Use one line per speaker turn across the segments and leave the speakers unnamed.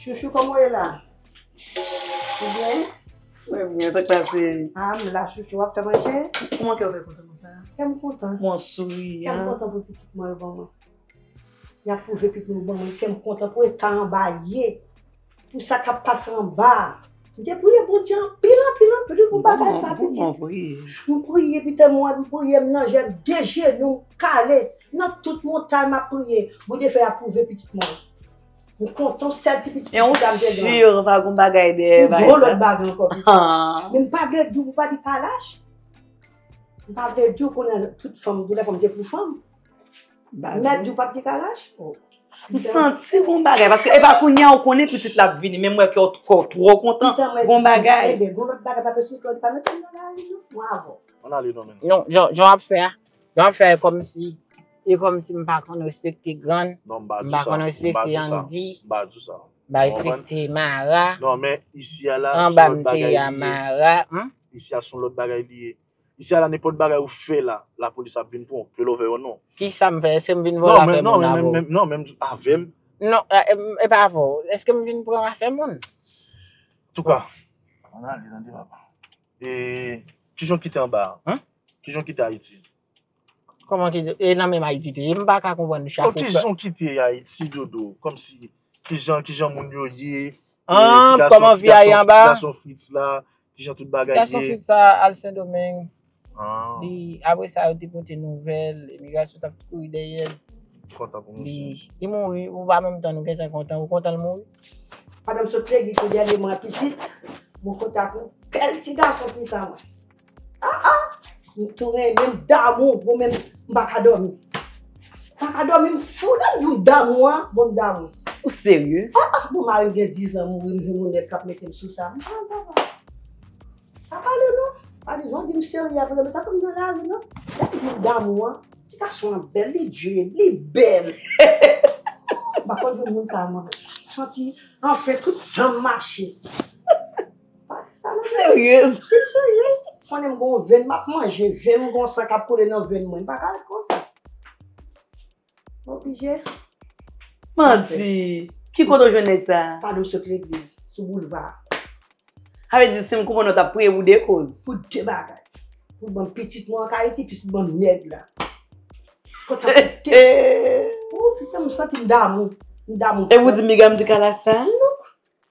Chouchou koman ye la? Ou byen? Mwen byen, sa
k pase? A, m la chouchou,
wap fè manje? Kouman kè w fè kontan konsa?
Kè m kontan. Mwen
souri an.
Kè m kontan pou
pitit
mwen
yo ban mwen. Yap pwouve pitit mwen yo ban mwen, kè m kontan pou eta anba ye. Pou sa kap pase anba. M te priye Bondye anpil anpil anpil pou bagay sa pitit. M priye pita mwen m priye m nan jè de jenou m kale nan tout montay map priye Bondye fè apwouve pitit mwen. M kontan w sèl ti pitit pitit la m te gen. E ou sur
pa gon bagay dèyè bagay sa. Ou gon lòt bagay ankò
pitit. Men m pa vle di w pou pa di pa lach. M pa vle di w konnen tout fanm tout lè fanm se pou fanm. Mèt di ou pap di karaj? M santi
gon bagay, paske e pa kounye a ou konnen pitit la ap vini, men m wè kè w twò kontan, gon bagay. Ebe, gon lòt bagay paske sou
kè w li pa mèt ann nan lari non, mwen avè w. Ann ale non
menm. Non, jan w ap fè
a, jan w ap fè a e kòmsi, e kòmsi m pa konn respekte grann, m pa konn respekte Yandi, m pa di w sa, m pa respekte Mara,
anba m te Yamara.
Isi a
son lòt bagay li ye. Isi a la nenpòt bagay ou fè la la polis ap vin pranw ke love yo non. Kisa m fè eske m
vin vòlò afè moun avèw. Non non menm avèm.
Non
epa avèw eske m vin pran afè moun. Antouka
ann ale tande papa. E kijan w kite anba a? Kijan w kite ayiti? Kòman
kite e nan menm ayiti te ye m paka konprann chak ou fè. Kijan w kite
ayiti dodo kòmsi kijan kijan moun yo ye. An kòman
vi a ye anba a? Ti gason fritz la
Kijan tout bagay ye. Ti gason Fritz sa al
sendomeng. Li apre sa yo te pote nouvel imigrasyon tap kouri dèyèl. M kontan pou misye. Li
li mouri ou
pa menm tann ou gentan kontan ou kontan l mouri. Madanm sot
legui kou dènye mwa pitit. Mwen konta pou bèl ti gason Fritz sa mwen. Ah ah M tou renmen m damou bro men m pa ka domi. M pa ka domi m fou lèm di w m damou a bon m damou. Ou serye?
Ah ah bon marim gen
10 ans mouri m jwenn yon nèg kap metem sou sa. Ah ah ah ah. Pa pale non. Pa di jan di m serye aprè m tankou m nan lari non. Lèm di w m damou a. Ti gason an bèl li dread li bèl. M pa konn jwenn moun sa mwen. Santi anfen tout sanm mache.
Seryez. Sim seryez.
Konnen m gon venn map manje venn gon san kap koule nan venn mwen m paka ret konsa. M oblije. Manti.
Ki kote w jwenn nèg sa? Pa di m sot legliz.
Sou boulva. Sa vle
di si m konprann w tap priye pou 2 koz. Pou 2 bagay.
Pou banm pitit mwen an ka Ayiti plis pou banm nèg la. Ooh putain m santi m damou. M damou. Epi w di
m biga m di kala sa?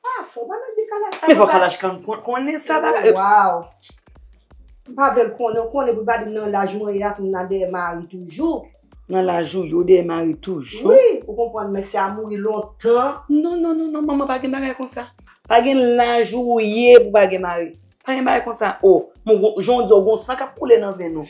Ah
fò ba nou di kalaj sa. Men fò kalaj kan
konnen sa ba. Waw.
M pa vle l konnen, ou konnen pou l pa di m nan laj mwen ye a pou m nan dèyè mari toujou. Nan laj ou
ye ou dèyè mari toujou. Wi, ou konprann mesye
a mouri lontan. Non non non non manman
pa gen bagay konsa. Pa gen laj ou ye pou pa gen mari. Pa gen bagay konsa o. Bon gon, jan w di a ou gon san k ap koule nan venn ou.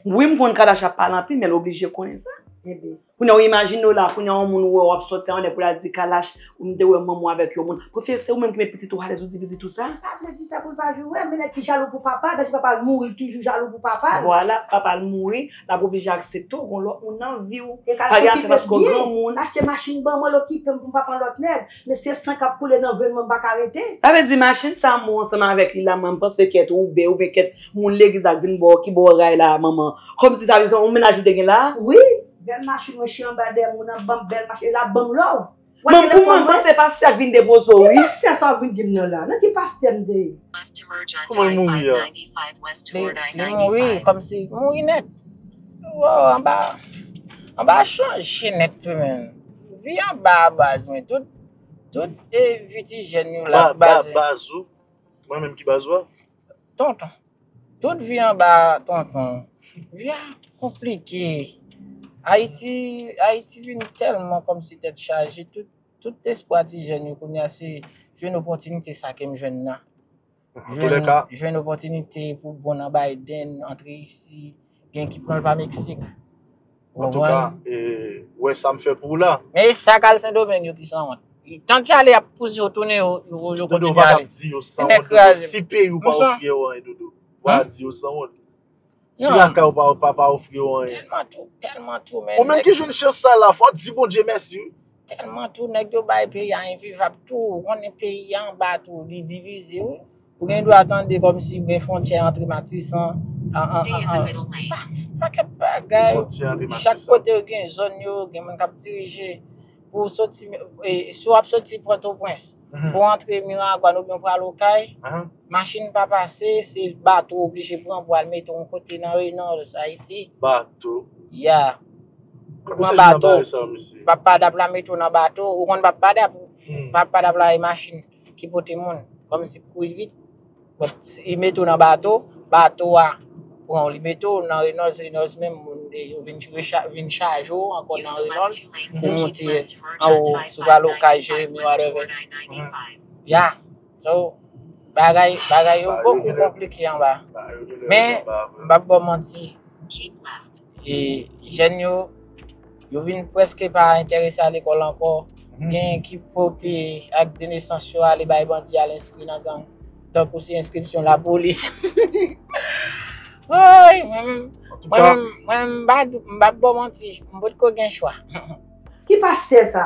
Wi m konn kalaj ap pale anpil men l oblije konnen sa. Ebyen. Kounya ou imajine w la, kounya yon moun ou wè w ap sòti anlè pou l al di Kalash ou m te wè manman w avèk yon moun. Pwofesè se ou menm ki met pitit ou alèz ou di pitit ou sa? Pap la di sa pou l pa
joure, men nèg ki jalou pou papa l, paske papa l mouri l toujou jalou pou papa l. Vwala, papa l mouri,
l ap oblije aksepte w gen yon lòt moun nan vi w. E Kalash okipe l
byen, l achte machin ban mwen, l okipe m pou m pa pran lòt nèg. Mesye san kap koule nan venn mwen m paka rete. Sa vle di machin sa
mwen ansanm avèk li la man panse kèt woube oubyen kèt moun legliz la k vin bò ki bò ray la manman kòmsi sa vle di se yon mennaj ou te gen la? Wi bèl
machin mwen chyen anba dèyè moun nan banm bèl machin e lap banm love. Banm pou mwen m
panse pastè k vin depoze w wi. Ki pastè sa wap vin dim nan
la nan ki pastè m te ye. Kouman l
mouri a? Li
mouri kòmsi mouri nèt. Woww anba anba chanje nèt tou menn. Vi an ba baz mwen tout tout e vi ti jèn yo la baz. Ba ba baz ou?
Mwen menm ki baz ou a? Tonton.
Tout vi an ba tonton. Vi a konplike. Ayiti Ayiti vin tèlman kòmsi tèt chaje tout tout espwa ti jèn yo kounya se jwenn opòtinite sa kem jwenn nan. Jwenn opotinite pou bon nan Biden, antre isi, gen ki pran l pa Meksik. An tou ka,
wè sa m fè pou w la. Men e sa k al Sendomeng
yo ki sanwont. Tan ki ale y ap pouse yo tounen yo kontinye ale. Dodo, w pa t ap di yo sanwont. Si
peyi w pa w fyè w anyen, Dodo, w pa t ap di yo sanwont. Si lakay ou pa yo papa ofri yo anyen. Tèlman tou, tèlman tou
men. Ou menm ki jwenn chans sa la,
fò di Bondye mèsi wi. Tèlman tou nèg
yo bay peyi a envivab tou, ou konnen peyi a anba tou li divize wi. Ou gen dwa tande kòmsi gen fwontyè antre Matisan pakèt bagay. Chak kote yo gen zòn yo, gen moun kap dirije. Ou soti, si wap soti Pòtoprens pou antre Miragwàn oubyen pral Okay. Machin pa pase, se bato ou oblije pran pou al mete yon kote nan Reynolds, Ayiti. Bato?
Ya.
Ou pran bato, papadap la mete ou nan bato, ou konn papadap? Papadap la e machin ki pote moun, kòm si pou kouri vit. Li mete ou nan bato, bato a pran ou, li mete ou nan Reynolds, Reynolds menm moun de yo vin chaje ou ankò nan Reynolds, pou monte anwo, sou pral Okay, Jeremie, whatever. Ya. So, bagay, bagay yo bokou konplike anba. Men, m pap bon manti, e jèn yo, yo vin preske pa enterese a lekòl ankò, gen ki pote ak de nesans yo ale bay bandi al enskri nan gang, tankou se enskripsyon lapolis. Woy! Mwen menm, mwen menm, mwen menm m pa bon manti, m potko gen chwa. Ki
pastè sa?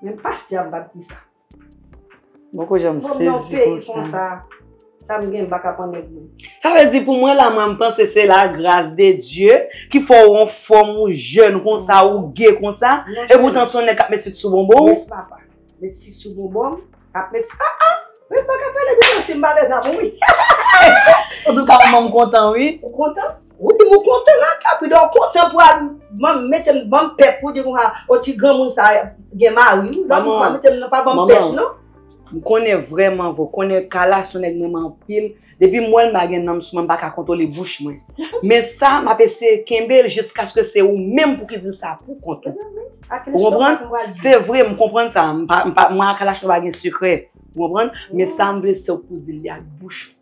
Men pastè ap bat kisa? Mwen
poko janm sezi konsa. Mwen nan peyi konsa, sa m gen m
pa ka pran nèg moun. Sa vle di pou mwen la
mwen m panse se la gras de Dye ki fè w an fòm ou jèn konsa ou ge konsa. E poutan se yon nèg k ap met sucre sou bonbon w. Yes papa.
Met sik sou bonbon m. Ap met sik. Ah ah! Mwen pa ka pale de sansi m ba lèd la pou wi. An
tou ka manman m kontan wi. Ou kontan? Wi
mwen kontan la kay pou dan w kontan pou al banm mete m banm pè pou di konsa o ti granmoun sa gen mari wi. Manman. Ou pa mete m nan pa banm pè non. M konnen
vrèman vre w konnen Kala son nèg m renmen anpil. Depi m wèl m pa gen nanm sou mwen m pa ka kontwole bouch mwen. Men sa m ap eseye kenbe l jiskaske se ou menm pou ki di l sa pou kont ou. Ou konprann? Se vre m konprann sa. M pa, m pa, mwen ak Alachno pa gen sekrè. Ou konprann? Men sa m vle se ou pou di l li ak bouch ou.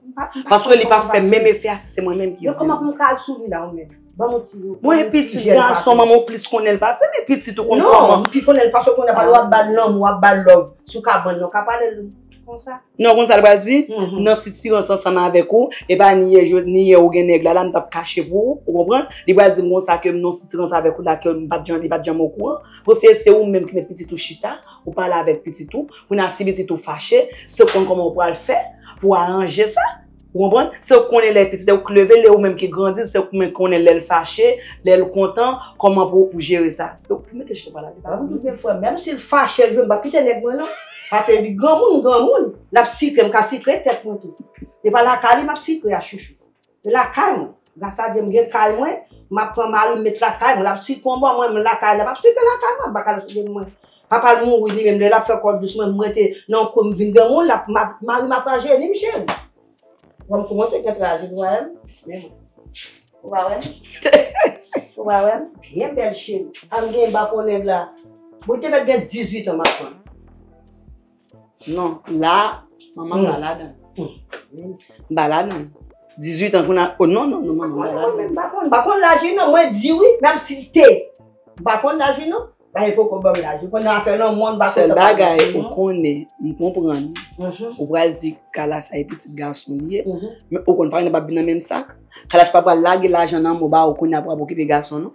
Paske li pa fè menm efè a si se mwen menm ki di l. Yo kòman pou m ka al sou li la
ou menm? Ban m yon ti. Mwen e
pitit gason manman ou plis konnen l pase m e pitit ou konn kòman. Non, m pi konnen l pase
w konnen pa lè w ap ba l lanmou w ap ba l love sou kabann nan w ka pale l. Konsa. Non konn sal pral di?
Nan sitirans ansanm avèk ou, e pa ni yè jou ni yè ou gen nèg la la m tap kache pou ou, ou konprann? Li pral di m konsa ke m nan sitirans avèk ou la ke m pat janm li pat janm okouran. Prefye se ou menm ki met pitit ou chita, ou pale avèk pitit ou, kounye a si pitit ou fache, se ou konn kòman ou pral fè pou aranje sa. Ou konprann? Se ou k konnen lè pitit ou k leve l e ou menm ki grandi l, se ou k konnen lè l fache, lè l kontan, kòman pou ou jere sa. Se ou mete chita pale avè l. Gen fwa menm si l
fache l jwenn m pap kite nèg mwen non. Pase li granmoun m granmoun, l ap sikre m ka sikre tèt mwen tou. Se pa lakay li m ap sikre a chouchou. Se lakay mwen. Gras a Dye m gen kay mwen, m ap pran mari m met lakay mwen, l ap site yon bò mwen m lakay la, m ap site lakay mwen, m pa ka al site m mwen. Papa l mouri li menm lè l ap fè kòl dous mwen m rete nan yon kwen m vin granmoun, mari m ap rajeni m cheri. Wè m koumanse gen trajè nou wè m men mwen. Ou pa wè m? Ou pa wè m? Byen bèl cheri. An m gen bafon nèg la. Bon li te mèt gen 18 an m ap pran l. Non,
la, manman pa la dan. Ba la dan. 18 an kouna, o non, non, non, manman ba la dan. Mwen pa konn, pa konn laji
non, mwen di wi, mwen ap site. Mwen pa konn laji non, ba e poko banm laji. Mwen nan afe nan moun, ba konn laji. Sèl bagay, ou
konnen, mwen konprann. Ou pral di, kala sa e pitit gason li e. Men ou konnen, pa yon nan pa bina menm sak. Kala sa pa pral lage lajan nan mou ba ou koun nan pral pokipe gason non.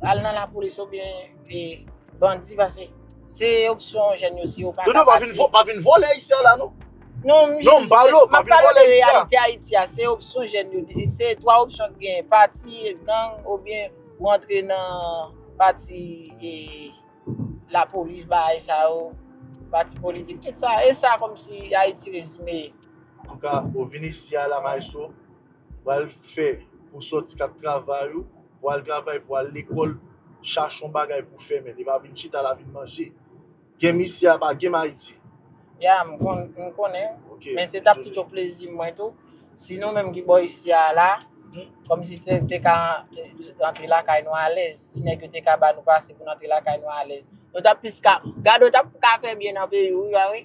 Al nan lapolis ou byen e bandi pase. Se opsyon jèn yo si yo pa ka Dodo pa pati. vin vo, pa vin
vole isi a la non. Non, m Non, m
pale w, pa map vin
pale w vole de isi a. reyalite
Ayiti a, se opsyon jèn yo. Se 3 opsyon ki genyen, pati, gang oubyen ou antre nan pati e lapolis bagay sa yo, pati politik, tout sa. E sa kòm si Ayiti rezime ye. Anka
ou vin isi a la maestro, pral fè pou sòti kap travay ou. Pou al travay, pou al lekòl, chache yon bagay pou fè men li pa vin chita la vin manje. Gem isi a pa gem Ayiti. Ya, m konn,
m konnen. Ok. Men se t ap tout yon plezi m mwen tou, si nou menm ki bò isi a la, kòm si te, te ka antre lakay nou alèz, si nèg yo te ka ba nou pase pou n antre lakay nou alèz. Nou t ap plis ka, gade w t ap ka fè byen nan peyi w wi, pa vre?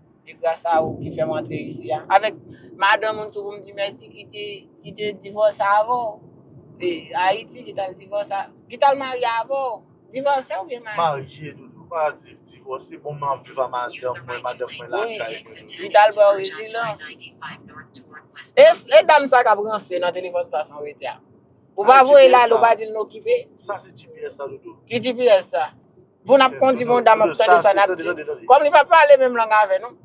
E gras a ou ki fèm antre isi a. Avèk madanm ou tou pou m di mèsi ki te divòse avè w. E Ayiti ki tal divòse, ki tal marye avè w. Divòse oubyen marye? Marye doudou, pa
di divòse. Bon mwen ap viv a madanm mwen, madanm mwen lakay mwen. Wi, li tal ba
w rezidans. E dam sa kap ranse nan telefòn sa san w rete a? Ou pa voye l ale, ou pa di l n okipe? Sa se GPS la
doudou. Ki GPS sa?
Pou nap kondi bon dam ap tande sa nap di. Kom li pa pale menm lang ave nou.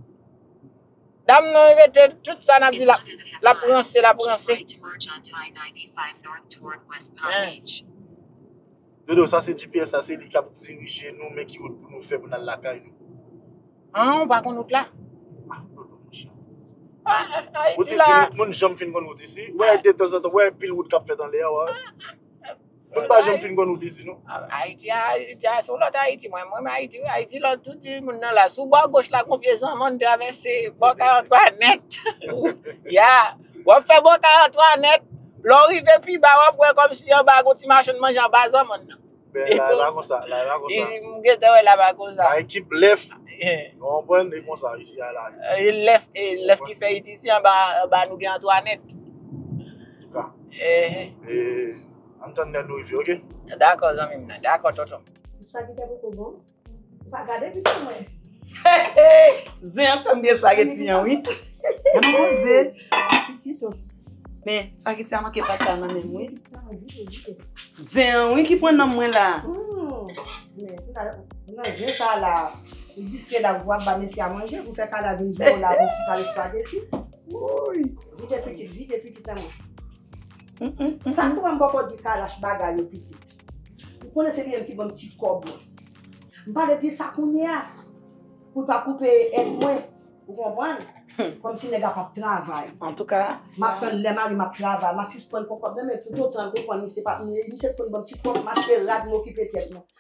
Dam nan rete tout sa nap di la lap ranse lap ranse.
Dodo sa se GPS la se li kap dirije nou men ki wout pou nou fè pou nal lakay nou. An
ou pa konn wout la? Ah dodo mon
cher. Ayiti la. Moun janm fin konn wout isi. Wè de tan zan tan wè pil wout kap fèt anle a wè. Mwen pa janm fin konn ou dezi non. Ayiti a, Ayiti
a se yon lòt Ayiti. Mwen renmen Ayiti wi. Ayiti lòt tou di moun nan la. Sou bò goch la gon pye zanmann travèse bò kay Antwanèt. Ya, w ap fè bò kay Antwanèt, lè w rive pi ba w ap wè kòmsi anba gon ti machann manje anba zanmann nan. Ben, la e pa konsa,
la e pa konsa. Izi m gen tan
wè la pa konsa. La ekip lèf, ou
konprann, e konsa isi a la. E lèf, e
lèf ki fè it isi anba nou gen Antwanèt.
Dakò zanmim nan
Dakò tontonm.
Zen an
tanbe espageti an wi. Men espageti an manke pat la nan menm wi. Zen an wi ki pran nanm mwen la.
Wouyy. Vide pitit vide pitit nan men. Sa pou m poko di kalash bagay yo pitit. Ou konnen se li menm ki banm ti kob mwen. M pa vle di sa kounye a pou l pa koupe èd mwen ou konprann. Kòm ti nèg la pap travay. Antouka sa. Map
tann lè mari m
ap travay ma sispann pran kob nan men toutotan l konprann misye pa misye t konn banm ti kob m achte rad m okipe tèt mwen.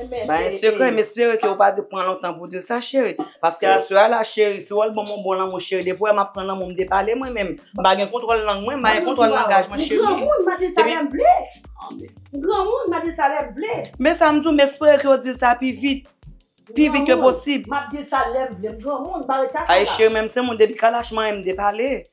Bae
sekrè, m espere ke ou pa te pran lontan pou di sa cheri. Paske aswè a la cheri, si w al ban m yon bon lanmou cheri, depi w wè m ap pran lanmou, m depale mwen menm. M
pa
gen kontwòl lang
mwen,
m pa gen kontwòl langaj mwen cheri.
M
granmoun, m ap di
sa
lè m vle. M
granmoun, m ap di sa lè m vle. Men sa m di w, m espere
ke ou di l sa pi vit. Pi vit ke posib. M granmoun, m ap di sa lè m
vle. M granmoun, m pa rete a kalach. Ae cheri, menm se moun depi
kalach mare m depale.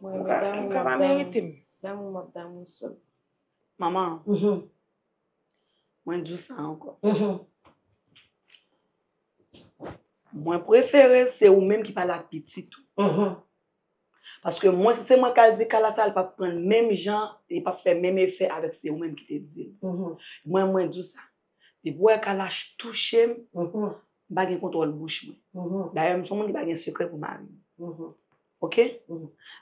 Mwen renmen damou map damou.
Damou map damou
sèm. Manman.
Mwen di w sa ankò. Mwen prefere se ou menm ki pale ak pitit ou. Paske mwen si se mwen kal di kala sa li pap prann menm jan, li pap fè menm efè avèk se ou menm ki te di l. Mwen mwen di w sa. Depi w wè kala touche m, m pa gen kontwòl bouch mwen. Dayè m son moun ki pa gen sekrè pou mari m. Ok.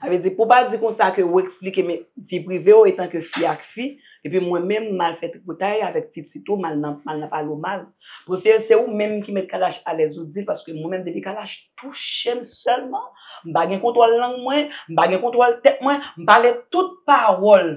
Sa vle di, pou w pa di konsa ke ou eksplike men vi prive ou etan ke fi ak fi, epi mwen menm m al fè tripotay avèk pitit ou, m al nan, m al nan pale w mal. Prefere se ou menm ki met Kalash alèz ou di l, paske mwen menm depi Kalash touche m sèlman, m pa gen kontwòl lang mwen, m pa gen kontwòl tèt mwen, m pale tout pawòl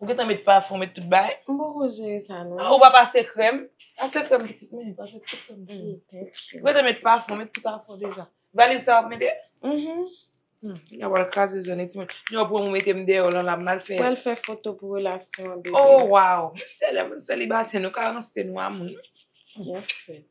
Ou gentan met pafon, met tout bagay. M poko jere sa
non. Ou pa pase krèm.
Pase krèm pitit mwen. Pase ti krèm tou. Ou gentan met pafon, met tout afon deja. Valiz sa wap mete? Mh. Mh, wap al kraze zone ti moun. Yon pwen mwen mete m dèyè w lan la mal fè. Pral fè foto pou
relasyon an bebe. Oh waw. Mwen
sèlè moun selibatè nou ka ranse nou a moun. Byen fèt.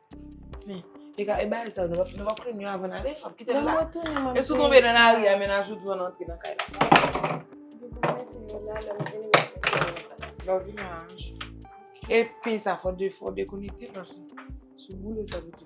Men, e ka e bagay sa yo, nou pa pran yon avan nale, nou kite l la. E sou
tonbe nan lari
a, men a jou djou an antre nan kay la. Lò vi nan anj. E pi sa fò de fò de konekte nan sa. Sou boule sa bouti.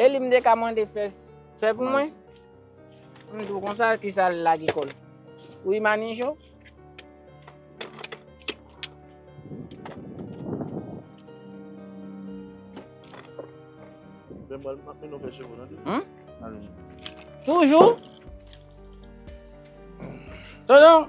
Eli m te ka mande fès fè pou mwen? M di w konsa ki sa l lage kò l? Wi Manijo? Toujou? Tonton?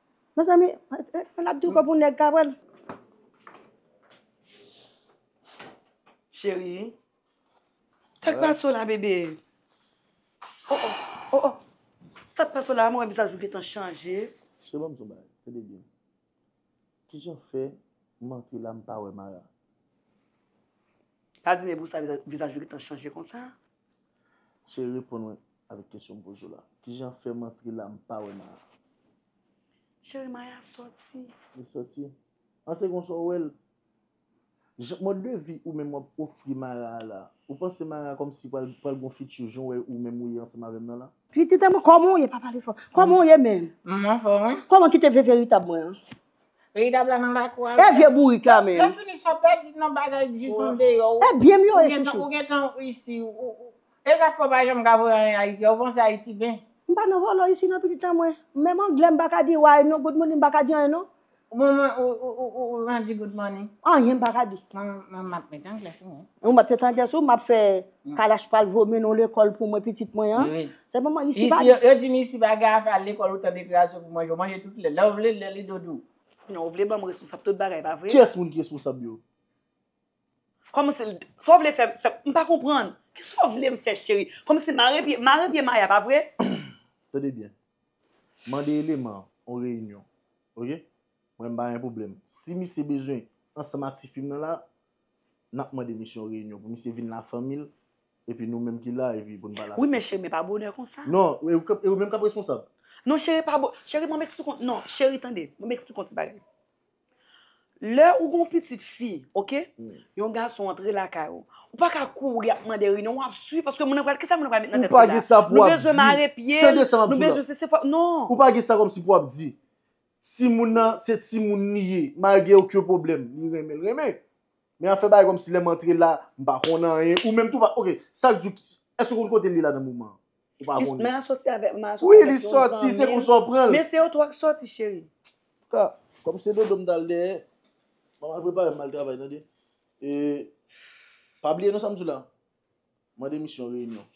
Mezanmi,
an ap di kò pou nèg ka pranl.
Cheri. Sak pase w la bebe? Oh oh, oh oh. Sak pase w la, mwen wè vizaj ou gentan chanje. Cheri banm di w yon bagay,
tande byen. Kijan fè m antre la m pa wè Mara?
Pa di mwen pou sa vizaj ou gentan chanje konsa. Cheri
reponn mwen avèk kesyon m poze w la. Kijan fè m antre la m pa wè Maya?
Cheri Maya sòti. Li sòti?
An se konsa w wè l? Jan mòd de vi ou menm w ap ofri Maya a la, ou panse Maya kòmsi pral gen yon fiti jan w wè ou menm ou ye ansanm avè m nan la? Pitit a mwen kòman w ye?
Pa pale fò. Kòman w ye menm? M anfòm wi. Kòman ki te ve veritab mwen an? Veritable
la nan lakou a. E vye bourik la menm. Lè
fini sa pa di non
bagay k jis andeyo. E byen m yo e chouchou.
Ou gentan isi.
E sak fè w pa janm ka voye anyen Ayiti a. Ou panse Ayiti ben. M pa nan volo isi
nan pitit an mwen. Menm anglè m pa ka di way non good morning m pa ka di anyen non. Bon mwen
ou jan di good morning. Anyen m pa ka di.
Mwen m ap met
anglè sou mwen. Ou met anglè sou ou m
ap fè kalach pral vomi nou lekòl pou mwen pitit mwen an. Se pa man isi pa Isi, yo di m isi pa gen
afè al lekòl ou tan deklarasyon pou manje, ou manje tout lè, lè ou vle, lè li dodou. Non, ou vle ban m
responsab tout bagay, pa vre? Kiyès moun ki responsab yo? Kòman se l, sa w vle fè m, fè m, m pa konprann. Ki sa w vle m fè cheri? Kòman se mare pye, mare pye Maya, pa vre? Tande byen.
Mande eleman an yon reyinyon. Ok? Mwen m pa gen pwoblèm. Si misye bezwen ansanm ak ti fi m nan la, n ap mande misye yon reyinyon pou misye vin la fanmi l, Epi nou menm ki la epi pou n pa la. Wi men cheri men pa bonè
konsa. Non e ou menm kap
responsab. Non cheri pa bon,
cheri banm esplike, non cheri tande banm esplike yon ti bagay. Lè ou gon pitit fi ok, yon gason antre lakay ou, ou pa ka kouri ap mande ri non wap swiv paske moun nan pral, kisa moun nan pral met nan tèt li la. Ou pa gen sa pou ap di,
tande
sa map di w la, non ou pa gen sa kòm si pou
ap di. Timoun nan se timoun li ye, malgre oken pwoblèm li renmen l renmen. Men ap fè bagay kòmsi lè m antre la, m pa konn anyen. Ou menm tou pa ok, sa k di w Èske ou konn kote l ye la nan moman an? Ou pa konnen. Maya sòti avèk yon zanmi l.
Wi, li sòti, se
konsa w pran l. Men se yo tou ak sòti
cheri. Antouka, kòm
se dodo m t al dèyè, mama prepare m m al travay tande. E pa bliye non sa m di w la. Mande misye yon reyinyon.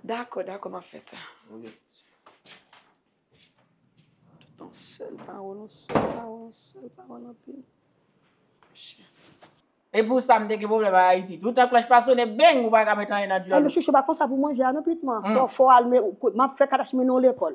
Dakò,
dakò, m ap fè sa. Ok. Tout yon sèl pawòl, yon sèl pawòl, yon sèl
pawòl anpil. Chèf. E pou sa m te gen pwoblèm a Ayiti. Toutan klòch pa sone, beng, ou pa ka met anyen nan dyòl ou. Chouchou pa
konsa pou manje
a
non Pitman. Fò w al, m ap fè kadash mennen w lekòl.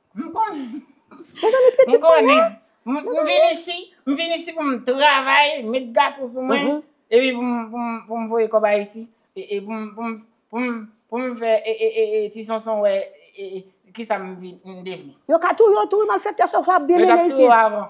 M konnen. Mezanmi pitit mwen la. M konnen.
M vin isi, m vin isi pou m travay, met gason sou mwen, epi pou m voye kòb Ayiti, e pou m, pou m, pou m fè Ti Sonson wè kisa m devni. Yo ka touye w tou wi
malfèktè sòf wap byen mennen isi. Yo tap touye w avan.